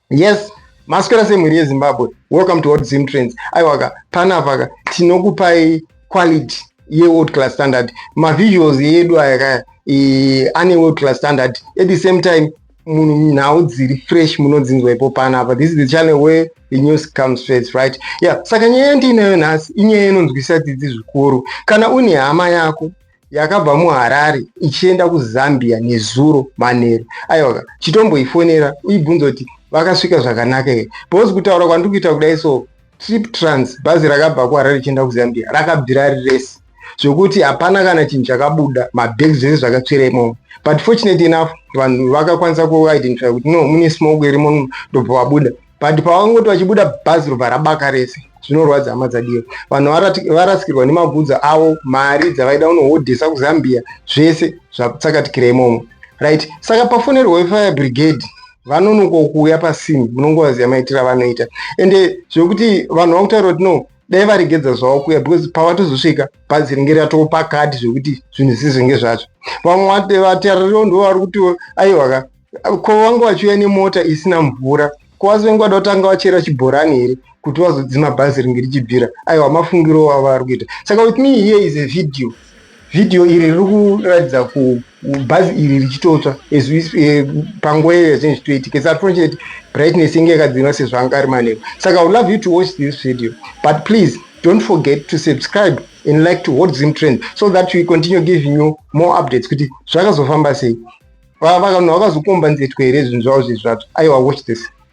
yes maswera semhuri yezimbabwe welcome to world zim trends aiwaka panapaka tinokupai quality yeworld class standard mavisuals yedu aya kaya ane world class standard at the same time munhu nhau dziri fresh munodzinzwa ipo panapa this is the channel where the news comes first right yeah saka nyaya yandiinayo nhasi inyaya inonzwisa dzidzi zvikuru kana une hama yako yakabva muharare ichienda kuzambia nezuro manheru aiwaka chitomboifonera uibvunza kuti vakasvika zvakanaka here because kutaura kwandiri kuita kudai so Trip Trans, bhazi rakabva kuHarare richienda kuZambia, rakabvira ari rese zvekuti hapana kana chinhu chakabuda mabag zvese zvakatsvira imomo but fortunate enough vanhu vakakwanisa kuidentify kuti no mune smoke irimo ndobva vabuda but pavangoti vachibuda bhazi robva rabaka rese zvinorwadza hama dzadiyo vanhu varasikirwa nemabvunzo avo mari dzavaida unohodhesa kuzambia zvese zvakutsakatikira imomo right saka pafonerwa wefire brigade vanonoka kuuya pasini munongovaziva maitiro avanoita ende zvekuti vanhu vakutaura kuti no dai varegedza zvavo kuya because pavatozosvika bhazi ringe ratopa kadhi zvekuti zvinhu zisizvenge zvacho vamwe vataririwo ndo vari kuti aiwaka ko vange vachiuya nemota isina mvura ko vazovenge vada kutanga vachera chibhorani here kuti vazodzima bhazi ringe richibvira aiwa mafungiro avo vari kuita saka with me here is a video Vhidhiyo iri riri kuratidza bhazi iri richitotsva eh, panguva iyo yazvinhu zvitoitika its unfortunate brightness inge yakadzinwa sezvanga ari manheru saka i love you to watch this video but please don't forget to subscribe and like to hot zim trend so that we continue giving you more updates kuti zvakazofamba sei vanhu vakazokomba nzetwe here zvinhu zvavo zvezvatsva aiwa watch this